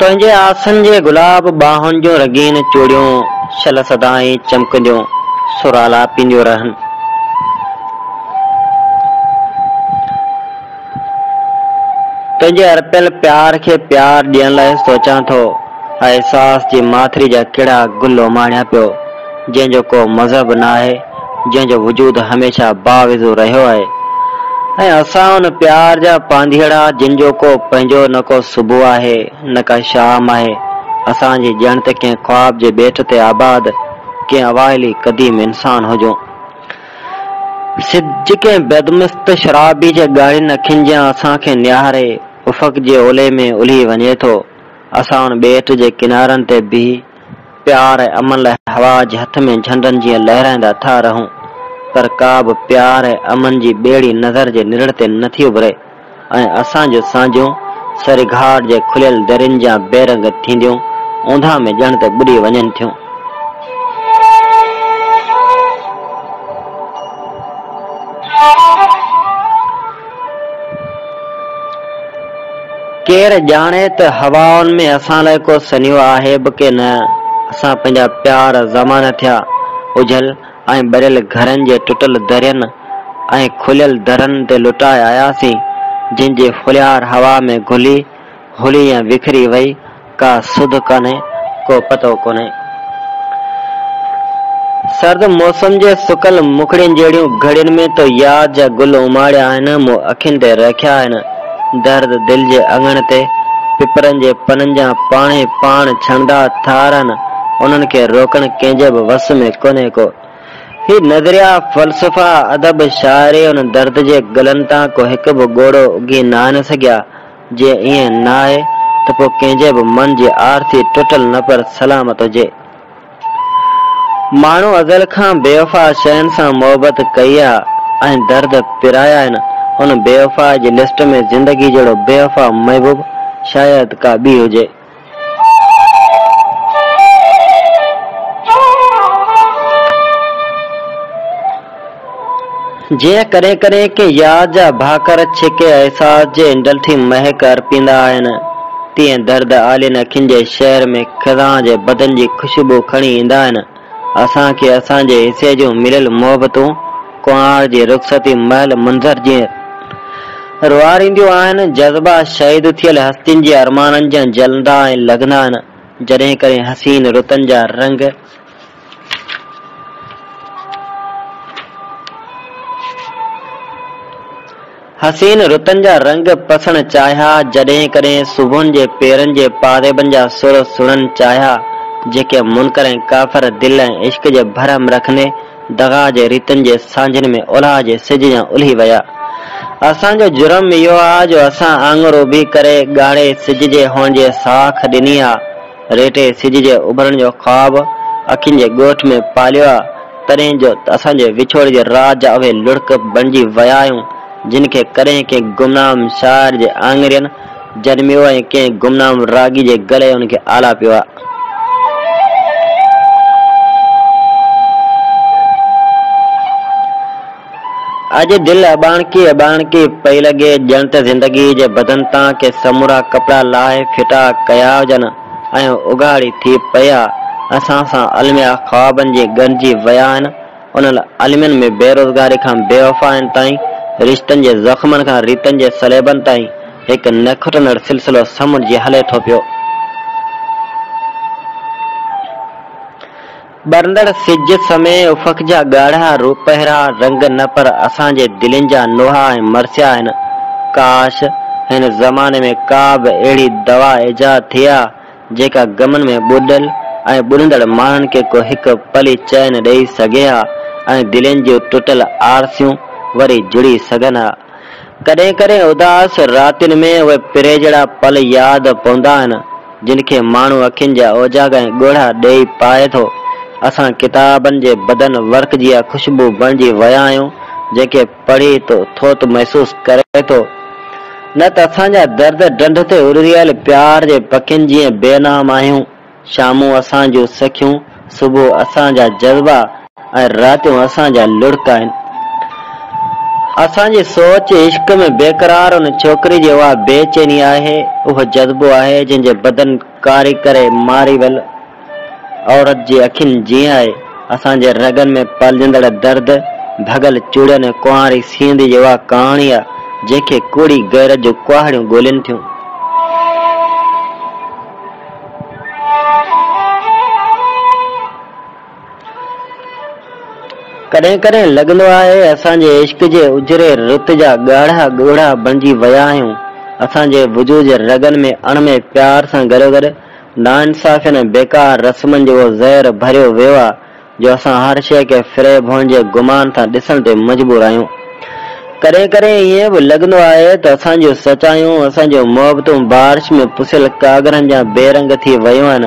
تنهنجي آسن جي گلاب ٻانهن جون رنگين چوڙيون شل سدائين چمڪنديون سر آلاپينديون رهن. تنهنجي ارپيل پيار کي پيار ڏيڻ لاء سوچان ٿو ۽ احساس جي ماٿري جا ڪهڙا گل اماڻيان پيو جنهن جو ڪو مذهب ناهي. جنهن جو وجود هميشه باوضو رهيو آهي ۽ اسان ان پيار جا پانڌيئڙا جن جو ڪو پنهنجو نه ڪو صبح آهي نه ڪا شام آهي اسان جي ڄڻ ته ڪنهن خواب جي ٻيٽ تي آباد ڪنهن اوائلي قديم انسان هجون سج ڪنهن بدمست شرابي جي ڳاڙهين اکين جيان اسان کي نهاري افق جي اولهي ۾ الهي وڃي ٿو اسان ان ٻيٽ جي ڪنارن تي بيهي پيار ۽ امن لاء هوا جي هٿ ۾ جهنڊن جيئن لهرائيندا ٿا رهون، پر ڪا به پيار ۽ امن جي ٻيڙي نظر جي نرڙ تي نه ٿي اڀري ۽ اسان جون سانجهون سري گهاٽ جي کليل درين جيان بي رنگ ٿينديون اونداهه ۾ ڄڻ ته ٻڏي وڃن ٿيون. ڪير ڄاڻي ته هوائن ۾ اسان لاء ڪو سنيهو آهي به ڪي نه. اسان پنهنجا پيار زمانه ٿيا اجهل ۽ ٻريل گهرن جي ٽٽل درين ۽ کليل درن تي لٽائي آياسين، جن جي ڦليار هوا ۾ گهلي، هلي ۽ وکري وئي. ڪا سڌ ڪانهي ڪو پتو ڪونهي. سرد موسم جي سڪل مکڙين جهڙيون گهڙين ۾ تو ياد جا گل اماڙيا آهن مون اکين تي رکيا آهن درد دل جي اڱڻ تي پپرن جي پنن جا پاڻهي پاڻ ڇڻندا ٿا رهن انهن کي روڪڻ ڪنهن جي به وس ۾ ڪونهي ڪو هي نظريا فلسفا ادب شاعري ان درد جي گلن تان ڪو هڪ به ڳوڙهو اگهي ناهن سگهيا جي ائين نه آهي ته پوء ڪنهن جي به من جي آرتي ٽٽل نه پر سلامت هجي. ماڻهو ازل کان بيوفا شين سان محبت ڪئي آ ۽ درد پرايا آهن، ان بيوفائي جي لسٽ ۾ زندگي جهڙو بيوفا محبوب شايد ڪا ٻي هجي. جيئن ڪڏهن ڪڏهن ڪنهن يار جا ڀاڪر ڇڪي احساس جي انڊل ٿي مهڪ ارپيندا آهن، تيئن درد آلين اکين جي شهر ۾ خزان جي بدن جي خوشبو کڻي ايندا آهن. اسان کي اسان جي حصي جون مليل محبتون ڪنوار جي رخصتي مهل منظر جيئن روئارينديون آهن. جذبا شهيد ٿيل هستين جي ارمانن جيان جلندا ۽ لڳندا آهن. جڏهن ڪڏهن حسين رتن جا رنگ حسين رتن جا رنگ پسڻ چاهيا، جڏهن ڪڏهن صبحن جي پيرن جي پاريبن جا سر سڻن چاهيا، جيڪي منڪر ۽ ڪافر دل ۽ عشق جي برهم رکندي دغا جي ريتن جي سانجهن ۾ اولهه جي سج جيان الهي ويا. اسان جو جرم اهو آ جو اسان آڱر اڀي ڪري ڳاڙهي سج جي هونجهي ساک ڏني آ. ريٽي سج جي اڀرڻ جو خواب اکين جي ڳوٺ ۾ پاليو آ، تڏهن جو ته اسان جي وڇوڙي جي رات جا اهي لڙڪ بڻجي ويا آهيون، جن کي ڪڏهن ڪنهن گمنام شاعر جي آڱرين جنميو ۽ ڪنهن گمنام راڳي جي گلي ان کي آلاپيو آ. اڄ دل اٻاڻڪي اٻاڻڪي پئي لڳي، ڄڻ ته زندگيء جي بدن تان ڪي سمورا ڪپڙا لاهي ڦٽا ڪيا هجن ۽ اگهاڙي ٿي پيا اسان سان الميا خوابن جي ڳنڍجي ويا آهن، انهن المين ۾ بيروزگاري کان بيوفائين تائين، رشتن جي زخمن کان ريتن جي صليبن تائين هڪ نه کٽندڙ سلسلو سمنڊ جي هلي ٿو پيو. ٻرندڙ سج سمي افق جا ڳاڙها روپهرا رنگ نه پر اسان جي دلين جا نوحا ۽ مرثيا آهن. ڪاش! هن زماني ۾ ڪا به اهڙي دوا ايجاد ٿئي ها جيڪا غمن ۾ ٻڏل ۽ ٻڏندڙ ماڻهن کي ڪو هڪ پلي چين ڏئي سگهي ها ۽ دلين جون ٽٽل آرسيون وري جڙي سگهن ها. ڪڏهن ڪڏهن اداس راتين ۾ اهي پرهيجڙا پل ياد پوندا آهن، جن کي ماڻهو اکين جا اوجاڳ ۽ ڳوڙها ڏيئي پائي ٿو. اسان ڪتابن جي بدن ورق جيان خوشبو بڻجي ويا آهيون، جنهن کي پڙهي تو ٿوت محسوس ڪري ٿو. نه ته اسان جا درد ڊنڍ تي اڏريل پيار جي پکين جيئن بي نام آهيون. شامون اسان جون سکيون، صبح اسان جا جذبا ۽ راتيون اسان جا لڙڪ آهن. اسان جي سوچ عشق ۾ بيقرار ان ڇوڪري جي اها بي چيني آهي، اهو جذبو آهي جنهن جي بدن ڪاري ڪري ماري ويل عورت جي اکين جيئن آهي. اسان جي رڳن ۾ پلجندڙ درد، ڀڳل چوڙين ۽ ڪنواري سينڌي جي اها ڪهاڻي آهي جنهن کي ڪوڙي غيرت جون ڪهاڙيون ڳولين ٿيون. ڪڏهن ڪڏهن لڳندو آهي اسان جي عشق جي اجري رت جا ڳاڙها ڳوڙها بڻجي ويا آهيون، اسان جي وجود جي رڳن ۾ اڻ ۾ پيار سان گڏوگڏ ناانصافين ۽ بيڪار رسمن جو اهو زهر ڀريو ويو آهي، جو اسان هر شيء کي فريب هئڻجي گمان سان ڏسڻ تي مجبور آهيون. ڪڏهن ڪڏهن ائين به لڳندو آهي ته اسان جون سچايون، اسان جون محبتون بارش ۾ پسيل ڪاڳرن جيان بي رنگ ٿي ويون آهن،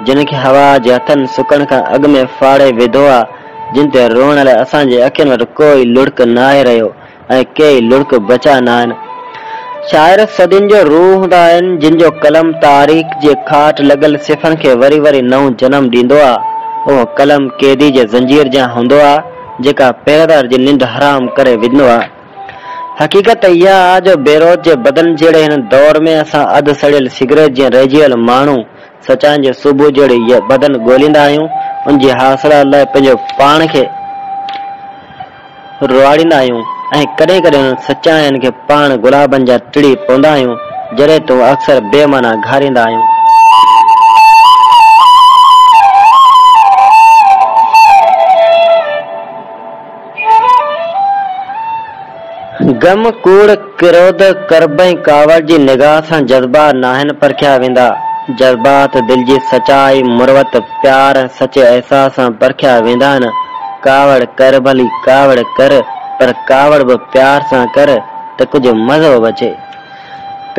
جن کي هوا جي هٿن سڪڻ کان اڳ ۾ ڦاڙي وڌو آ، جن تي روئڻ لاء اسان جي اکين وٽ ڪو ئي لڙڪ ناهي رهيو. ۽ ڪيئي لڙڪ بچا ناهن. شاعر صدين جو روح هوندا آهن، جن جو قلم تاريخ جي کاٽ لڳل صفحن کي وري وري نئون جنم ڏيندو آ. اهو قلم قيدي جي زنجير جيان هوندو آ، جيڪا پهريدار جي ننڊ حرام ڪري وجهندو آ. حقيقت ته اها آ جو بيروت جي بدن جهڙي هن دور ۾ اسان اڌ سڙيل سگريٽ جيان رهجي ويل ماڻهو سچائين جي صبح جهڙي بدن ڳوليندا آهيون، ان جي حاصلات لاء پنهنجو پاڻ کي. رئاڙيندا آهيون ۽ ڪڏهن ڪڏهن سچاين کي پاڻ گلابن جا ٽڙي پوندا آهيون جڏهن تون اڪثر بي معنيٰ گهاريندا آهيون. غم، ڪوڙ، ڪروڌ، ڪرب ۽ ڪاوڙ جي نگاهه سان جذبا ناهن پرکيا ويندا. جذبات دل جي سچائي، مروت، پيار، سچي احساس سان پرکيا ويندا آهن. ڪاوڙ ڪر ڀلي ڪاوڙ ڪر پر ڪاوڙ به پيار سان ڪر ته ڪجهه مزو به اچي.